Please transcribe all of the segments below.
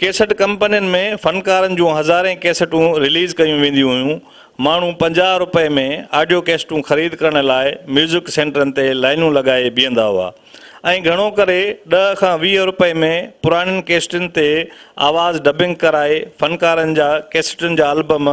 Cassette ڪمپنين ۾ فنڪارن جون هزارين ڪيسٽون رليز ڪيون وينديون هيون. ماڻهو پنجاهه رپئي ۾ آڊيو ڪيسٽون خريد ڪرڻ لاء ميوزڪ سينٽرن تي لائينون لڳائي بيهندا هئا ۽ گهڻو ڪري ڏهه کان ويهه رپئي ۾ پراڻين ڪيسٽن تي آواز ڊبنگ ڪرائي فنڪارن جا ڪيسٽن جا البم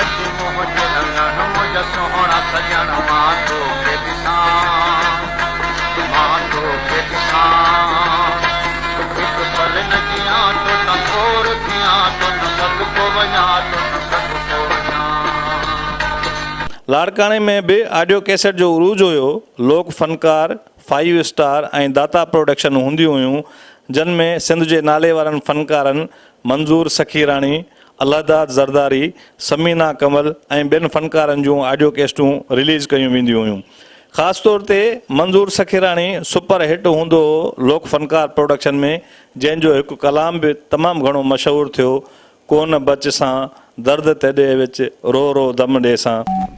اچ منهنجي اڱڻ منهنجا سهڻا سڄڻ مان توکي ڏسان مان توکي ڏسان هڪ پل نه جيان تو تان ڪور ٿيان تو تان صدقو وڃان تو تان صدقو وڃان. لاڙڪاڻي ۾ به آڊيو ڪيسٽ جو عروج هيو، لوڪ فنڪار، فائيو اسٽار ۽ داتا پروڊڪشن هونديون هيون جن ۾ سنڌ جي ناليوارن فنڪارن منظور سخيراڻي، الله داد زرداري، ثمينه ڪمل ۽ ٻين فنڪارن جون آڊيو ڪيسٽون رليز ڪيون وينديون هيون. خاص طور تي منظور سخيراڻي سپر هٽ هوندو هو لوڪ فنڪار پروڊڪشن ۾ جنهن جو هڪ ڪلام به تمام گهڻو مشهور ٿيو، ڪونه بچ سان، درد تيڏي وچ، رو رو دم ڏي سان.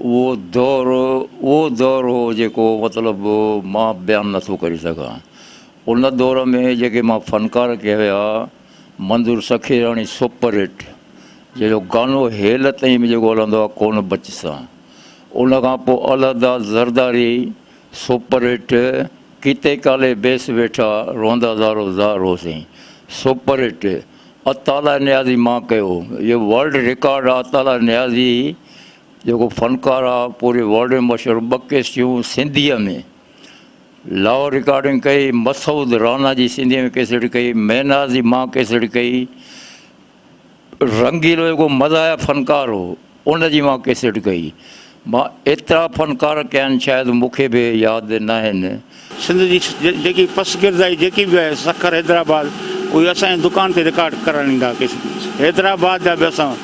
اهو دور اهو دور هو جيڪو مطلب مان بيان نٿو ڪري سگهان. ان دور ۾ جيڪي مان فنڪار ڪيا ويا، منظور سخيراڻي سپر هٽ جنهن جو گانو هيل تائين به جيڪو هلندو آهي ڪونه بچ سان. ان کان پوء الهدا Zardari super hit ڪيتي Kali base ويٺا روندا زارو زار هو سائين سپر هٽ. عطاالله نيازي مان ڪيو هو اهو ورلڊ رڪارڊ آهي عطاالله نيازي جيڪو فنڪار آهي پوري ورلڊ ۾ مشهور ٻه ڪيسٽيون سنڌيء ۾ لاهور رڪارڊنگ ڪئي مسعود رانا جي سنڌيء ۾ ڪيسٽ ڪئي ميناز جي مان ڪيسٽ ڪئي رنگيلو جيڪو مزاحيه فنڪار هو ان جي مان ڪيسٽ ڪئي. مان ايترا فنڪار ڪيا آهن شايد مون کي به ياد ناهن. سنڌ جي جيڪي پس گردائي جيڪي به آهي سکر حيدرآباد اهي اسان جي دڪان تي رڪارڊ ڪرڻ ايندا ڪيسٽ حيدرآباد جا به اسان.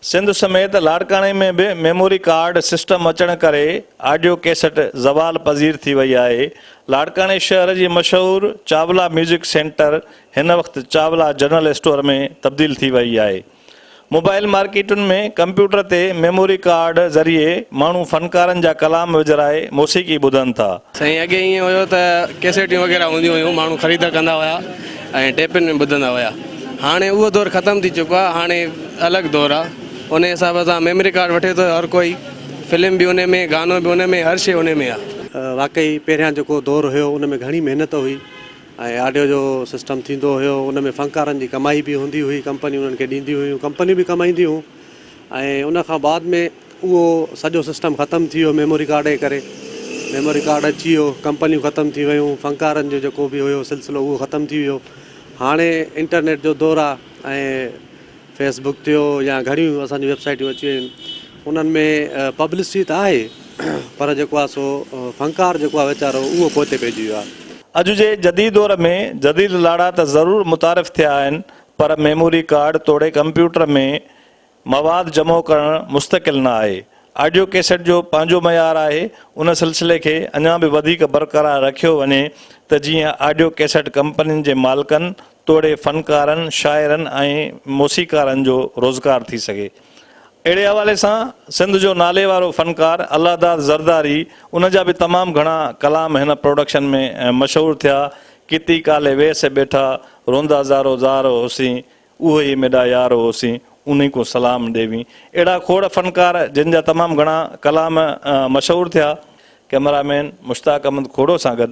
سنڌ سميت لاڙڪاڻي ۾ به ميموري ڪارڊ سسٽم اچڻ ڪري آڊيو ڪيسٽ زوال پذير ٿي وئي آهي. لاڙڪاڻي شهر جي مشهور چاولا ميوزڪ سينٽر هن وقت چاولا جنرل اسٽور ۾ تبديل ٿي وئي آهي. موبائل مارڪيٽن ۾ ڪمپيوٽر تي ميموري ڪارڊ ذريعي ماڻهو فنڪارن جا ڪلام وجهرائي موسيقي ٻڌن ٿا. سائين اڳي ائين هيو ته ڪيسيٽيون وغيره هونديون هيون ماڻهو خريد ڪندا هيا ۽ ٽيپن ۾ ٻڌندا هيا هاڻي اهو دور ختم ٿي چڪو آهي هاڻي الڳ دور آهي انهي حساب سان ميموري ڪارڊ وٺي ٿو هر ڪوئي فلم به انهي ۾ گانو به انهي ۾ هر شي انهي ۾ آهي. واقعي پهريان جيڪو دور هيو ان ۾ گهڻي محنت هئي ۽ آڊيو جو سسٽم ٿيندو هيو ان ۾ فنڪارن جي ڪمائي به هوندي هئي ڪمپنيون انهن کي ڏينديون هيون ڪمپنيون به ڪمائينديون هيون ۽ ان کان بعد ۾ اهو سڄو سسٽم ختم ٿي ويو ميموري ڪارڊ جي ڪري ميموري ڪارڊ اچي ويو ڪمپنيون ختم ٿي ويون فنڪارن جو جيڪو به هيو سلسلو اهو ختم ٿي ويو هاڻي انٽرنيٽ جو دور آهي ۽ فيس بڪ ٿيو يا گهڻيون اسان جون ويب سائيٽون اچي ويون آهن انهن ۾ پبلسٽي ته آهي پر جيڪو آهي سو فنڪار جيڪو آهي ويچارو اهو پوئتي پئجي ويو آهي. اڄ جي جديد دور ۾ جديد لاڙا ته ضرور متعارف ٿيا آهن پر ميموري ڪارڊ توڙي ڪمپيوٽر ۾ مواد جمع ڪرڻ مستقل نه آهي. آڊيو ڪيسٽ جو پنهنجو معيار آهي ان سلسلي کي اڃا به وڌيڪ برقرار رکيو وڃي ته جيئن آڊيو ڪيسٽ ڪمپنين جي مالڪن توڙي فنڪارن، شاعرن ۽ موسيقارن جو روزگار ٿي سگهي. اهڙي حوالي سان سنڌ جو ناليوارو فنڪار الله داد زرداري ان جا به تمام گهڻا ڪلام هن پروڊڪشن ۾ مشهور ٿيا، ڪتي ڪالي ويهه سي ٻيٺا، روندا زارو زار هوسين، اوهه ئي ميڏا يار هوسين، انهي ڪون سلام ڏيوين. اهڙا کوڙ فنڪار جن جا تمام گهڻا ڪلام مشهور ٿيا. ڪئميرا مين مشتاق احمد کوڙو سان گڏ